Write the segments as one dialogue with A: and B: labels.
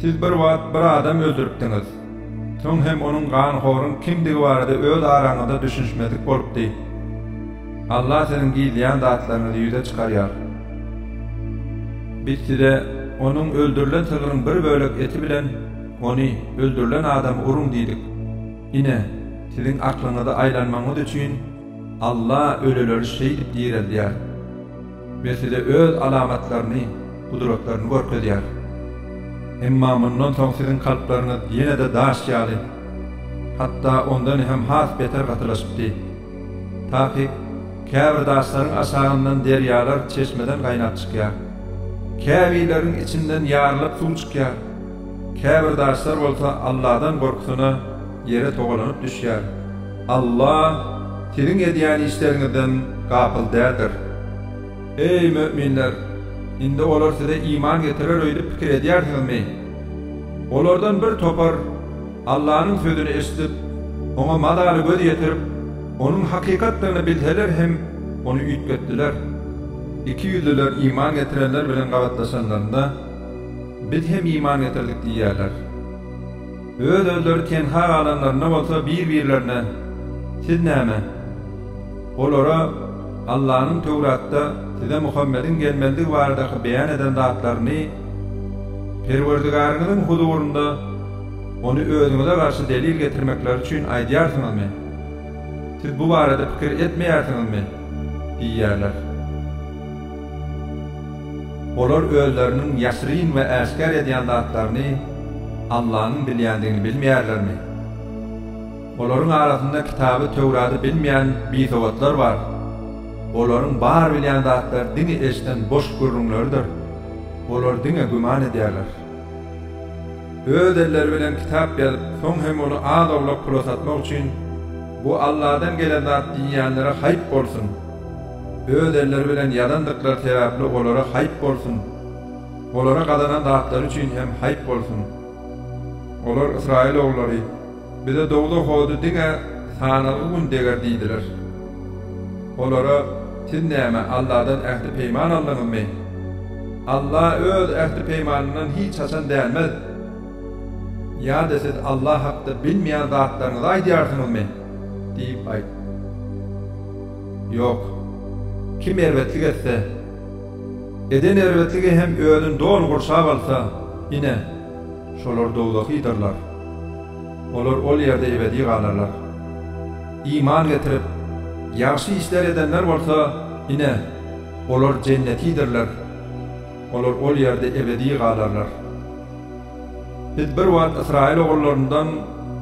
A: Siz bir wagt bir adam öldüripdiňiz. Soň hem onuň ganhoryň kimdigi barada öz araňyzda düşünişmezlik bolupdy. Allah siziň gizleýän zatlaryňyzy ýüze çykarýar. Biz size onuň öldürilen sygryň bir bölek eti bilen ony, öldürilen adamy, uruň diýdik. Ine, siziň aklyňyzy aýlanmagyňyz üçin Allah ölüleri şeýdip direldýär. Mesele öz alamatlaryny, gudratlaryny görkezýär. Emma mundan soň siziň kalplaryňyz ýene-de daş ýaly, hatda ondan hem has beter gatylaşypdy. Takyk, käbir daşlaryň aşagyndan derýalar çeşmeden gaýnap çykýar. Käbirleriň içinden ýarylyp suw çykýar. Käbir daşlar bolsa Alladan gorkusyna ýere togalanyp düşýär. Alla siziň edýän işleriňizden gapyl däldir. Eý, möminler! Indi olar size iman getirer öýdüp pikir edýärsiňizmi? Olardan bir topar Allanyň sözüni eşidip, oňa mazaly göz ýetirip, onuň hakykatdygyny bilseler hem, ony üýtgetdiler. Ikiýüzlüler iman getirenler bilen gabatlaşanlarynda, Biz hem iman getirdik diýýärler. Öz-özleri tenha galanlarynda bolsa bir-birlerine, Siz näme? Olara Allanyň Töwratda size Muhammediň gelmelidigi baradaky beýan eden zatlaryny, Perwerdigaryňyzyň huzurynda ony özüňize garşy delil getirmekleri üçin aýdýarsyňyzmy? Siz bu barada pikir etmeýärsiňizmi? diýýärler. Olar özleriniň ýaşyryn we äşgär edýän zatlaryny Allanyň bilýändigini bilmeýärlermi? Olaryň arasynda kitaby Töwrady bilmeýän bisowatlar bar. Olaryň bar bilýän zatlary diňe eşden boş gürrüňleridir. Olar diňe güman edýärler. Öz elleri bilen kitap ýazyp, soň hem ony az-owlak pula satmak üçin, Bu Alladan gelen zat diýýänlere haýp bolsun! Öz elleri bilen ýazandyklary sebäpli olara haýp bolsun! Olara gazanan zatlary üçin hem haýp bolsun! Olar, Ysraýyl oglary, Bize dowzah hody diňe sanalgy gün deger diýdiler. Olara, Siz näme, Alladan ähti-peýman aldyňyzmy? Alla Öz ähti-peýmanyndan hiç haçan dänmez. Ýa-da siz Alla hakda bilmeýän zatlaryňyzy aýdýarsyňyzmy? diýip aýt. Ýok. Kim erbetlik etse, eden erbetligi hem özüni doly gurşap alsa, ine, şolar dowzahydyrlar. Olar ol ýerde ebedi galarlar. Iman getirip, ýagşy işler edenler bolsa, ine, olar jennetidirler. Olar ol ýerde ebedi galarlar. Biz bir wagt ysraýyl ogullaryndan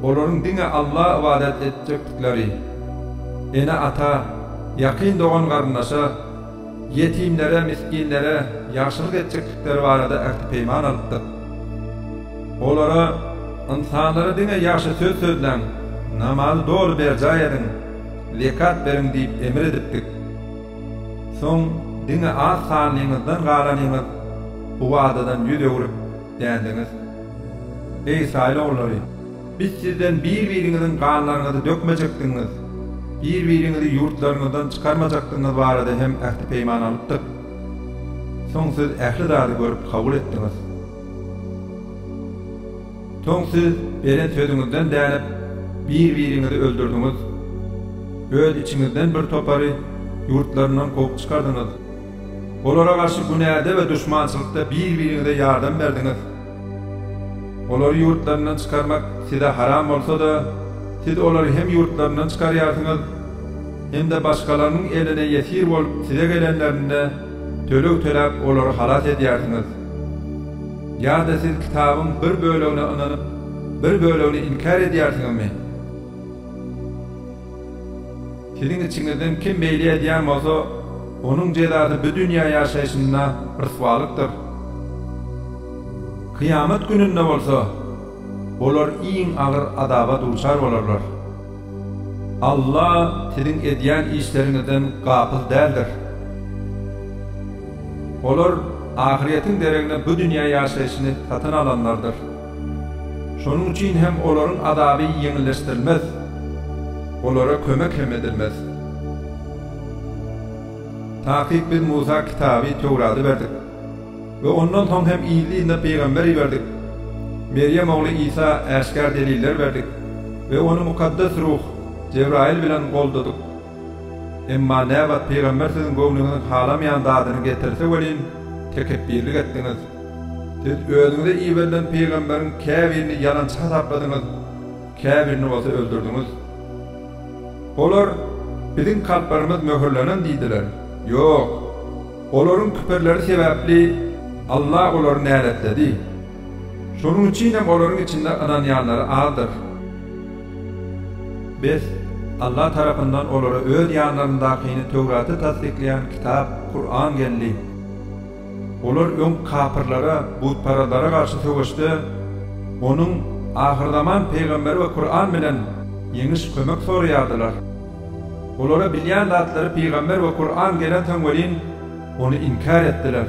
A: olaryň diňe Alla ybadat etjekdikleri, ene-ata, ýakyn dogan-garyndaşa, ýetimlere, misginlere ýagşylyk etjekdikleri barada ähti-peýman alypdyk. Olara, Ynsanlara diňe ýagşy söz sözläň, namazy doly berjaý ediň, zekat beriň diýip emr edipdik. Soň diňe az sanlyňyzdan galanyňyz, Bu wadadan ýüz öwrüp dändiňiz. Eý, Ysraýyl ogullary! Biz sizden bir-biriňiziň ganlaryňyzy dökmejekdigiňiz, bir-biriňizi ýurtlaryňyzdan çykarmajakdygyňyz barada hem ähti-peýman alypdyk. Soň siz ähli zady görüp kabul etdiňiz. Soň siz beren sözüňizden dänip, bir-biriňizi öldürdiňiz. Öz içiňizden bir topary ýurtlaryndan kowup çykardyňyz. Olara garşy günäde we duşmançylykda bir-biriňize ýardam berdiňiz. Olary ýurtlaryndan çykarmak size haram bolsa-da, siz olary hem ýurtlaryndan çykarýarsyňyz, hem-de başgalarynyň eline ýesir bolup size gelenlerinde, töleg töläp olary halas edýärsiňiz. Ýa-da siz kitabyň bir bölegine ynanyp, bir bölegini inkär edýärsiňizmi? Siziň içiňizden kim beýle edýän bolsa, onuň jezasy bu dünýä ýaşaýşynda ryswalykdyr. Kyýamat gününde bolsa, olar iň agyr azaba duçar bolarlar. Alla siziň edýän işleriňizden gapyl däldir. Olar ahyretiň deregine bu dünýä ýaşaýşyny satyn alanlardyr. Şonuň üçin hem olaryň azaby ýeňilleşdirilmez, olara kömek hem edilmez. Takyk biz Musa kitaby, Töwrady berdik we ondan soň hem yzly-yzyna pygamber iberdik. Merýem ogly Isa äşgär deliller berdik we ony Mukaddes Ruh, Jebraýyl bilen goldadyk. Emma näbat pygamber siziň göwnüňiziň halamaýan zadyny getirse welin, tekepbirlik etdiňiz. Siz özüňize iberilen pygamberiň käbirini ýalançy hasapladyňyz, käbirini bolsa öldürdiňiz. Olar, Biziň kalplarymyz möhürlenen diýdiler. Ýok! Olaryň küpürleri sebäpli Alla olary näletledi. Şonuň üçin hem olaryň içinde ynanýanlary azdyr. Bes, Allah tarapyndan olara öz ýanlaryndakyny, Töwraty tassyklaýan kitap, Kuran, geldi. Olar öň kapyrlara, butparazlara garşy söweşde Onuň, ahyrzaman pygamberi we Kuran bilen, ýeňiş, kömek soraýardylar. Olara bilýän zatlary pygamber we Kuran gelensoň welin, ony inkär etdiler.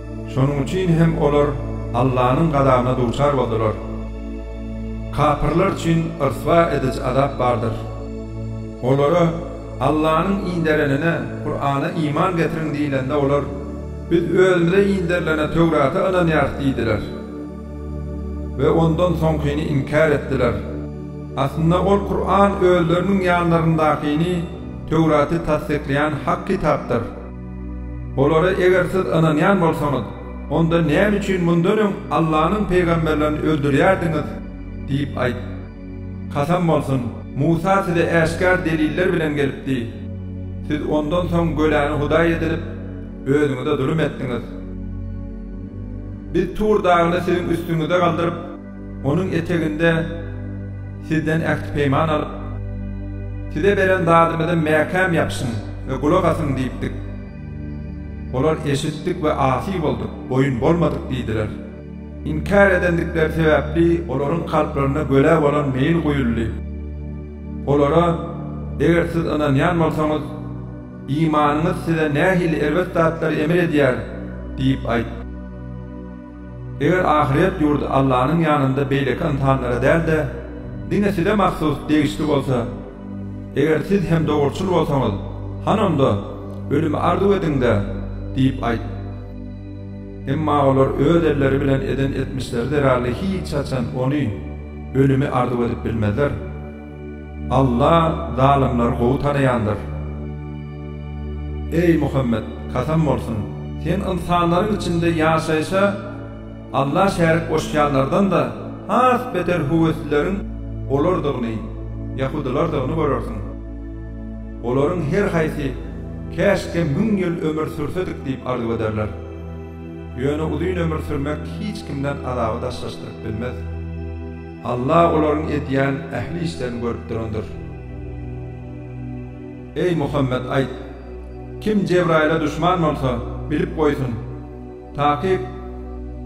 A: Şonuň üçin hem olar Allanyň gazabyna duçar boldular. Kapyrlar üçin ryswa ediji azap bardyr. Olara, Allanyň inderenine, Kurana, iman getiriň diýlende olar, Biz özümize inderilene, Töwrata, ynanýarys diýdiler we ondan soňkyny inkär etdiler. Aslynda ol Kuran özleriniň ýanlaryndakyny, Töwraty, tassyklaýan hak kitapdyr. Olara eger siz ynanýan bolsaňyz, onda näme üçin mundan öň Allanyň pygamberlerini öldürýärdiňiz? diýip aýt. Kasam bolsun, Musa size äşgär deliller bilen gelipdi. Siz ondan soň göläni hudaý edinip, özüňize zulum etdiňiz. Biz Tur dagyny siziň üstüňize galdyryp, Onuň eteginde Sizden ähti-peýman alyp, Size beren zadymyza mäkäm ýapyşyň we gulak asyň diýipdik. Olar, Eşitdik we asy bolduk, boýun bolmadyk diýdiler. Inkär edendikleri sebäpli olaryň kalplarynda gölä bolan meýil guýuldy. Olara, Eger siz ynanýan bolsaňyz, imanyňyz size nähili erbet zatlary emr edýär? diýip aýt. Eger ahyret ýurdy Allanyň ýanynda beýleki ynsanlara däl-de, diňe size mahsus degişli bolsa, eger siz hem dogruçyl bolsaňyz, hany onda, ölümi arzuw ediň-de! diýip aýt. Emma olar öz elleri bilen eden etmişleri zerarly hiç haçan ony, ölümi, arzuw edip bilmezler. Alla zalymlary gowy tanaýandyr. Eý, Muhammet, kasam bolsun! Sen ynsanlaryň içinde ýaşaýşa Alla şärik goşýanlardan-da has beter höweslileriň olardygyny, ýahudylardygyny görersiň. Olaryň her haýsy, Käşgä müň ýyl ömür sürsedik diýip arzuw ederler. Ýöne uzyn ömür sürmek hiç kimden azaby daşlaşdyryp bilmez. Alla olaryň edýän ähli işlerini görüp durandyr. Eý, Muhammet, aýt, Kim Jebraýyla duşman bolsa, bilip goýsun, takyk,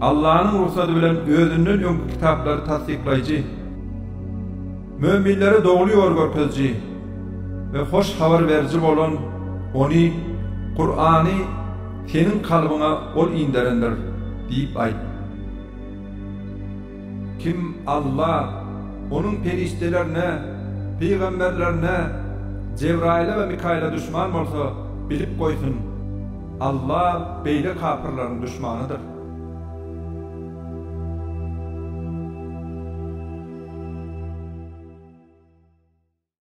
A: Allanyň rugsady bilen özünden öňki kitaplary tassyklaýjy, möminlere dogry ýol görkeziji we hoş habar beriji bolan Ony, Kurany, seniň kalbyňa Ol inderendir, diýip aýt. Kim Alla, Onuň perişdelerine, pygamberlerine, Jebraýyla we Mikaýyla duşman bolsa, bilip goýsun, Alla beýle kapyrlaryň duşmanydyr.